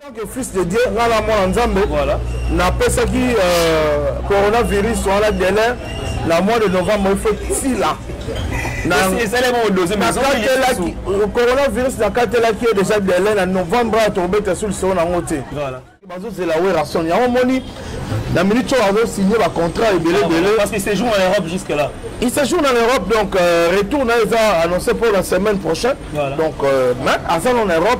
tant que fils de dieu nga na mwana nzambe napesaki euh, coronavirus wana dele na mois de novembre efetila nakatelaki coronavirus nakatelaki ye déjà dele na novembre awa tokobeta solisoo nango te bazozela werrason yango omoni na minute oyo azosigne bacontrat ebele ah, ebele parce que séjour na l'europe jusque là il séjour na l'europe donc euh, retour na eza annoncé pour la semaine prochaine voilà. donc euh, mais aza na europe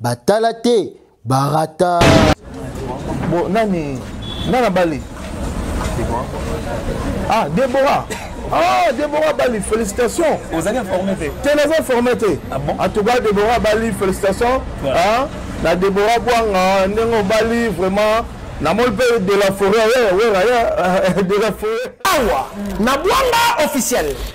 batala te barata bo nani nana bali ah debora ah debora bali félicitation ozali informé te te naza informé te ah en tout cas debora bali félicitation ah, na debora bwanga ndenge obali vraiment namoni mpe de la forêt wera de la forêt awa na bwanga officiel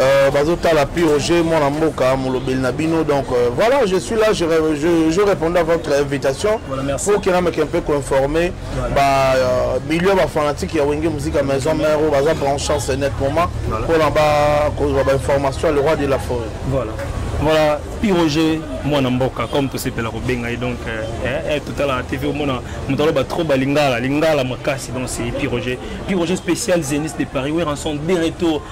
Euh, bazotala pi roger mwana mboka molobeli na bino donc euh, voilà je suis là je, je, je répondais à votre invitation voilà, pour que nameke un peu koinforme voilà. ba euh, milieu bafanatique ya wenge musika maison mère oyo baza branchance net moment mpona bakozwa bainformation le roi de la forêt voilà. voilà piroger mwana mboka comme tosepela kobenga ye donc euh, eh, eh, totalaka tv omona moto aloba trop balingala lingala makasi donc c'est piroger piroger spécial zenis de paris weranson de retour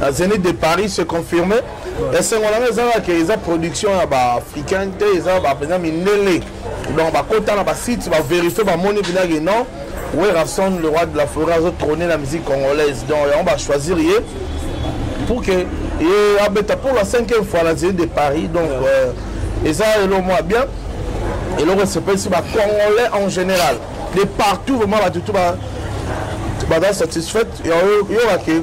na zenith de paris se confirme esengo na ngai ezalaka ke eza production ya baafricain te eza bapenza mindele donc bakota na basite baverifie bamoni mpena ke non werrason le roi de la forêt azotrone na musique congolaise donc yango bachoisir ye pour que ye abeta pour la cinquième fois na zenith de paris donc euh, eza elo mwa bien eloko esepelisi bacongolais en général de partout vraiment batutu baza satisfaite yo bakei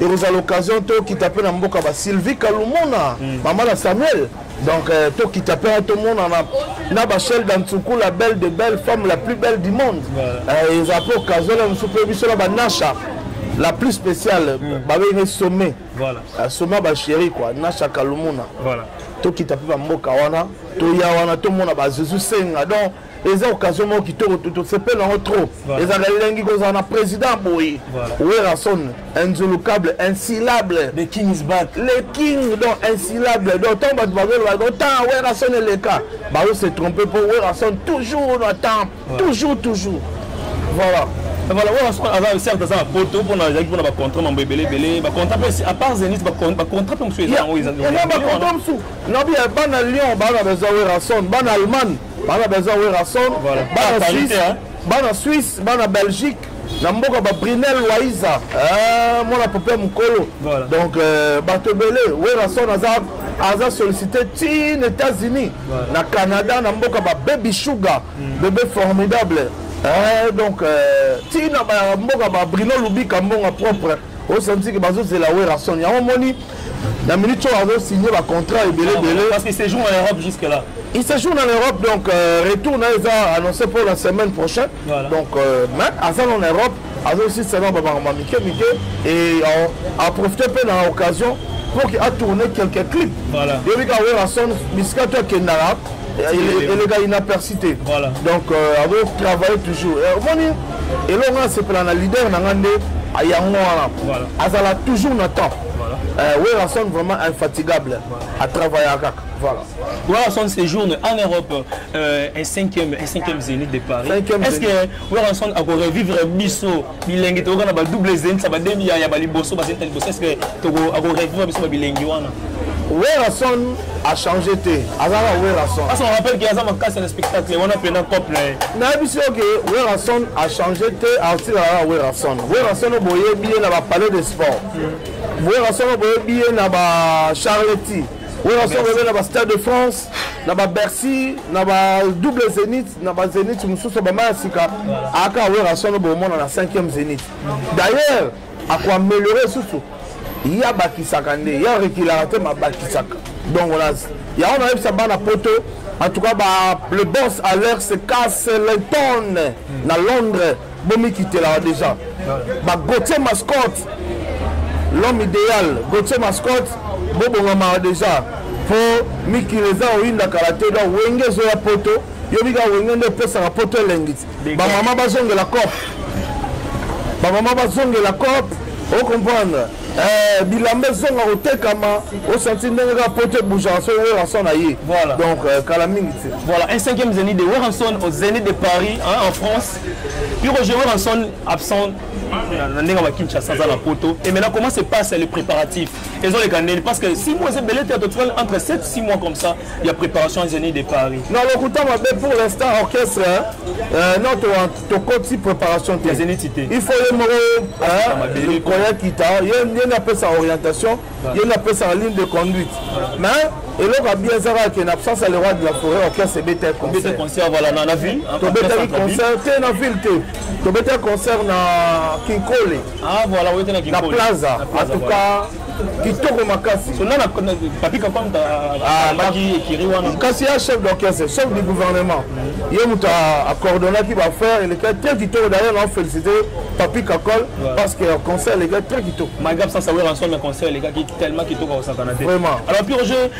ekozala occasion tokita mpe na mboka ba sylvie kalumuna mm. mama na samuel donc euh, tokita mpe tomonana na bachelle dansuku la belle de belle femme la plus belle du monde euh, eza mpe occasion na mosusu mpe biso na banasha la plus spéciale mm. babengi sommet voilà. Euh, sommet bachéri quoi nasha kalumuna voilà. tokita mpe bamboka wana toya wana tomona bazuzu senga donc eza occasion moko kitoko tosepela yango trop ezalaka elengi kozala na président boye werrason inzulukable insilable le king is back le king donc insilable donc ntango bato bazoloba donc temps werrason eleka bazo se trompe mpo werrason toujours na temps toujours toujours voilà voilà oyo aza certes aza na poto mpona ezalaki mpona bacontrat mambo ebele ebele bacontrat mpe à part zenit bacontrat mpe mosusu eza yango eza bacontrat mosusu nabi bana lyon bana baza werrason bana allemagne bana baza werrason bana suisse hein. bana suisse bana belgique na mboka babrinel waiza eh, mwana pope mokolo donc euh, bato ebele werrason aza aza sollicité tin états-unis na canada na mboka bababy sugar hmm. bebe formidable eh, donc euh, tina mboka babrino lubika mbonga propre o sentir que bazo zela Werrason yango moni na minute oyo azo signer ba contrat ebele ebele parce que séjour en Europe jusque là il séjourne en Europe donc euh, retour na eza annoncé pour la semaine prochaine voilà. donc euh, mais aza en Europe azosilisa na babango mike mike et aprofite mpe na occasion pour qu'il a tourné quelques clips yebi ka werrason bisika to akendaka elekaki na persité donc azo travaille toujours omoni eloko nga asepela na leader na nga nde yango wana azala toujours na temps euh, werrason vraiment infatigable atravaillaka kaka Voilà. Werrason séjourne en Europe euh, un cinquième, un cinquième zénith de Paris. Est-ce que Werrason a revivre biso bilengi tokoka na ba double zénith ça ba demi ya ba liboso ba zénith liboso est-ce que toko a revivre biso ba bilengi wana? Werrason a change te aza kaka werrason asa rappelle ke aza makasi na spectacle wana mpena cop na ye nayebisi yo ke werrason a change te atika kaka werrason werrason oyo boyebi ye na bapalais de sport hmm. werrason oyo boyebi ye na bacharleti werrason boyebi na bastade de france na babercy na badouble zénith na bazénith mosusu bama ya sika aka werrason oyo bomona na 5e zénith d'ailleurs ako améliorer susu ye abakisaka nde ye arekilaka te mabakisaka donc wana yango nayebisa bana poto en tout cas ba, le boss à l'heure se casse le tonne hmm. na londres bomikitelaka déjà ba gautier mascotte l'homme idéal gautier mascotte bobongamaka déjà po mikili eza oyinda kala te donc wenge ezoya poto yo bika wenge nde epesaka poto elengiti bamama bazongela cop bamama bazongela cop ocomprendre eh, bilamba ezonga kotekama osanti ndenge kaka poto ebougeaka soki weranson na ye donc euh, kala mingi te voilà un cinquième zénith de weranson au zénith de paris hein, en france piko je weranson absent na ndenge ba kinshasa aza na poto et maintenant comment se passe le préparatif ezoleka ndeni parce que six mois ezebele te totikali entre 7 six mois comme ça ya préparation ya zeni de paris na lokuta mabe pour l'instant orchestre euh, non tokoti préparation te zeniti te il faut ye moko likolo ya kita ye nde apesa orientation ye nde apesaka ligne de conduite mais eloko ya bien ezaka ke na absence ya le roi de la forêt orchestre ebeta concert concert voilà na na ville tobetaki concert te na ville te tobetaki concert na kinkole ah voilà oyete na kinkole na plaza en tout cas kitoko makasi kasi ya chef d'orchestre chef du gouvernement ye moto acordonnaki baaffaire elekaki très kitoko d'ailleurs na félicité papi kakol parce que concert elekaki très kitoko vraiment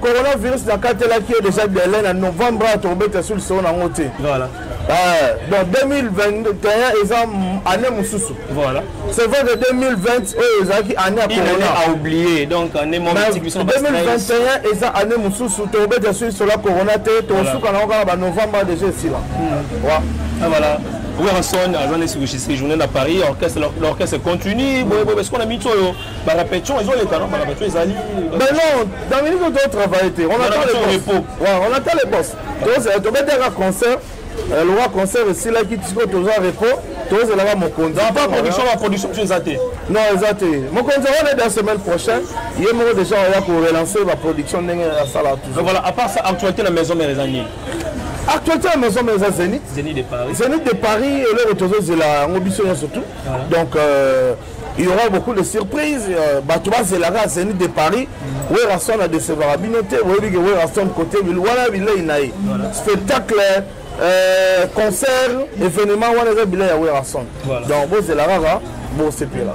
coronavirus nakatelaki ye déjà delai na novembre awa tokobeta sur lisolo nango te Euh, donc 2021 eza année mosusu voilà c'est vrai que 2020 oyo ezalaki année ya coronaoublié donc année 2021 eza année mosusu tokobeta soki sola corona te tokosuka nango kaka banovembre déjà esila hmm. ah, voilà Werrason aza nde sikoyo séjourne na paris orchestre l'orchestre continue boye boye sikoyo na minute oyo barapetition ezoleka no barapetition ezali mais non dans minute oyo totravaille te on attend le repos on attend le boss tozela tobetaka concert euh, lokola concert esilaki sikoyo toza repos tozelaka mokonzi pas production ba production biso eza te non eza te mokonzi wana da semaine prochaine ye moko déjà oya ko relancer ba production ndenge asala toujours voilà à part ça actualité na maison mère eza nini actualité ya maison ma eza zenit zenit de paris zenit de paris eloko tozozela yango biso nyonso tout donc euh, il y aura beaucoup de surprises euh, bato bazelaka zenit de paris mm. weraston adecevaka bino te boyebi ke weraston côté wana bilei na ye spectacle euh, concert événement wana eza bilei ya weraston donc bozela kaka bosepela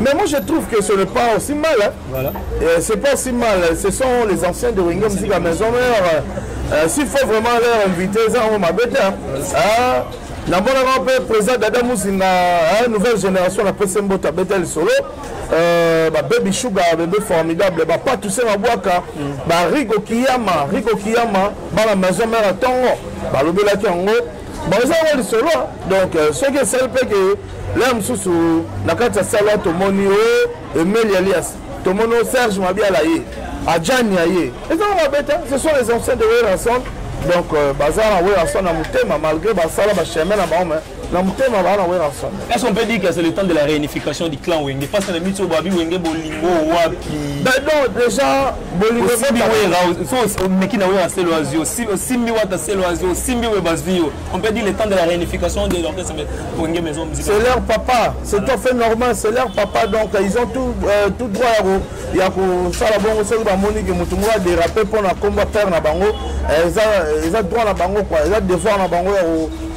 Mais moi je trouve que ce n'est pas aussi mal. Hein. Voilà. Euh, c'est pas aussi mal. Ce sont les anciens de Ringo Musique à Maison Mère. Euh, euh, S'il faut vraiment leur inviter, ça on m'a bête. Hein. Ah, namonaka mpe président dada muzinga hein, nouvelle génération na pese mboto abeta lisolo euh, babebi sugar bebe formidable bapatuse mabwaka mm. barigo kiyama rigo kiyama bana maison mare ya ntongo balobelaki yango baoza yango lisolo donc euh, soki esali mpe ke laya mosusu na kati ya salo tomoni o oh, emeli alias tomoni o oh, serge mabiala ye ajani ya ye ezanga mabe te ce sont les anciens de werrason donc euh, baza na werrason na motema malgré basala bachemin na bango mais na motema baa na werrason est ce qu'on peut dire que c'est le temps de la réunification du clan wenge parce que na miti oyo babi wenge bolingo wapi donc déjà osimbi wera so omeki na wera selo azwi osimbi wata selo azwi osimbi we bazwi yo on peut dire le temps de la réunification de l'orchestre wenge maison musicale c'est leur papa c'est tout à fait normal c'est leur papa donc ils ont tout, euh, tout droit ya kosala bongo soki bamoni ke motu moko adérape mpo na komba père na bango eh, eza droit na bango kua eza devoir na bango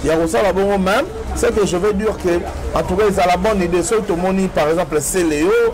ya kosala bongo même ce que je veux dire que en tout cas ezala bonne idée soki tomoni par exemple c'est léo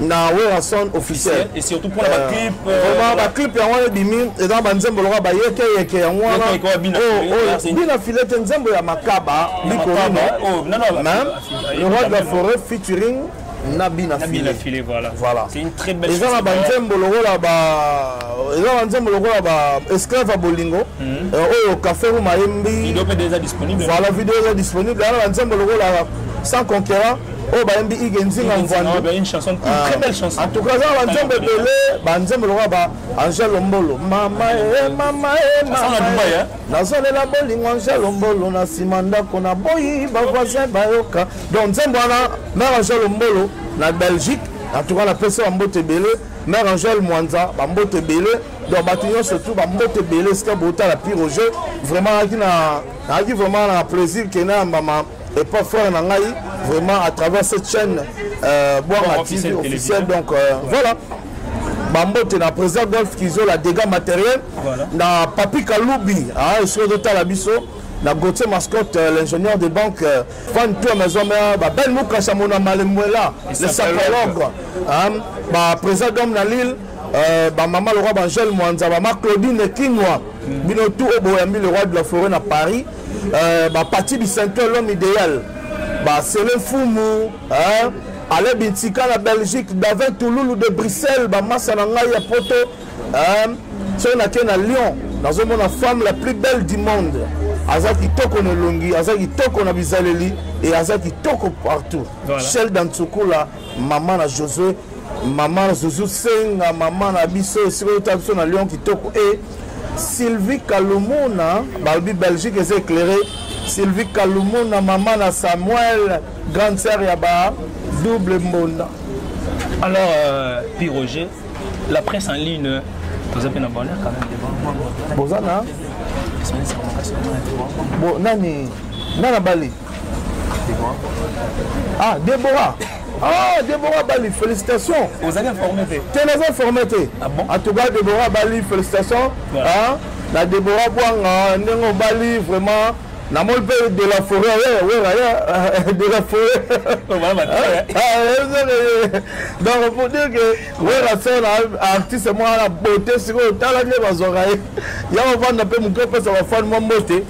na werrason officiel et surtout mpona baclip euh, euh, vraiment baclip yango wana ebimi eza na banzembo lokola bayekeyeke yango wana bina file te nzembo ya makaba likolino oh, le roi de la forêt featuring na bina file voilà eza na banzembo lokola ba eza na nzembo lokola ba esclave ya bolingo hmm. euh, oyo café ruma yembi voilà video eza disponible eza na banzembo lokola sans conquérant oyo bayembi ige nzinga mvwandu ah. en tout cas aza banzembo ebele banzembo lokola ba angel lombolo mama e mama e mama eh, eh. nazolela bolingo angel lombolo na nsima ndako na boyi bavoisin bayoka donc nzembo wana mare angel lombolo na belgique en tout cas napesi bambote ebele mare angel mwanza bambote ebele donc bato nyonso tu bambote ebele esika botala pire jeu vraiment ayaki na ayaki vraiment na plaisir kena yambama et pas frère na ngai vraiment à travers cette chaîne euh, Bwanga TV officiel donc euh, voilà bambote na président golf kizola dégâts matériel voilà. na papi kalubi ah, esiko ezotala biso na gautier mascotte euh, l'ingénieur de banque euh, fan toi maison mère babel mukasha mona malemwela le sapologue hein, ba président d'homme na lille euh, bamama lokwa bangele mwanza bama claudine kinwa mm. bino tout oyo boyambi le roi de la forêt na paris euh, ba parti bisanto l'homme idéal ba sele fumu hein? ale bintika na belgique davin touloulou de bruxelles bamasa na ngai ya poto hein? soki nake na lyon nazomona femme la plus belle du monde aza kitoko na elongi aza kitoko na bizaleli e aza kitoko partout voilà. shel dantsukula mama na josue mama na zuzu senga mama na biso esika oyota biso na lion kitoko e sylvie kalumuna balobi belgique eza éclairé sylvie kalumuna mama na samuel grande sœur ya ba double mbonda alors euh, pi roger la presse en ligne toza mpe na bonheur quand même devant boza na bo nani nani abali ah debora ah debora bali félicitation ozali informé te te naza informé te ah en tout cas debora bali félicitation ah, na debora bwanga ndenge obali vraiment namoni mpe de la forêt weraya de la forêt donc pour dire que wera sona artiste mwana beauté sikoyo tala nde bazwaka ye yango vanda mpe moke opesa bafani mwa mbote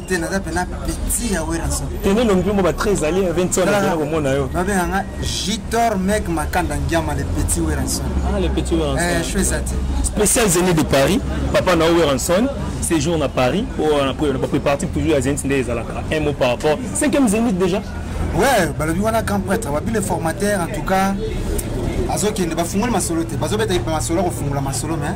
te naza mpena petit ya werason tene elongi mpe mbo ba très ali ya 20 ans komona yo babenga nga jitor meg makanda ngiama le petit werason ah le petit werason eh je ça te spécial zénith de paris papa na werason séjour na paris po na po na partie toujours ya zénith nde ezalaka un mot par rapport 5e zénith déjà ouais balobi wana camp prêtre babi le formateur en tout cas azokende bafungoli masolo te bazobeta masolo ya kofungola masolo mais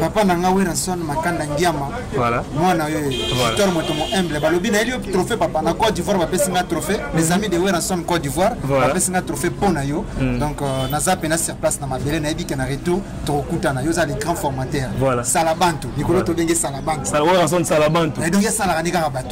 papa na nga werrason makanda ngiama voilà. mwana oyo victor voilà. motomo humble balobi nayeli yo trophée papa na côte d'ivoire bapesi nga trophée mm. les amis de werrason côte d'ivoire voilà. bapesi nga trophée mpo na yo mm. donc euh, naza mpena sur place na mabele nayebi ke na retour tokokutana yo oza le grand formateur voilà. salabantu likolo voilà. tobenge salabantu werrason salabantu donc esalaka nde kaka bato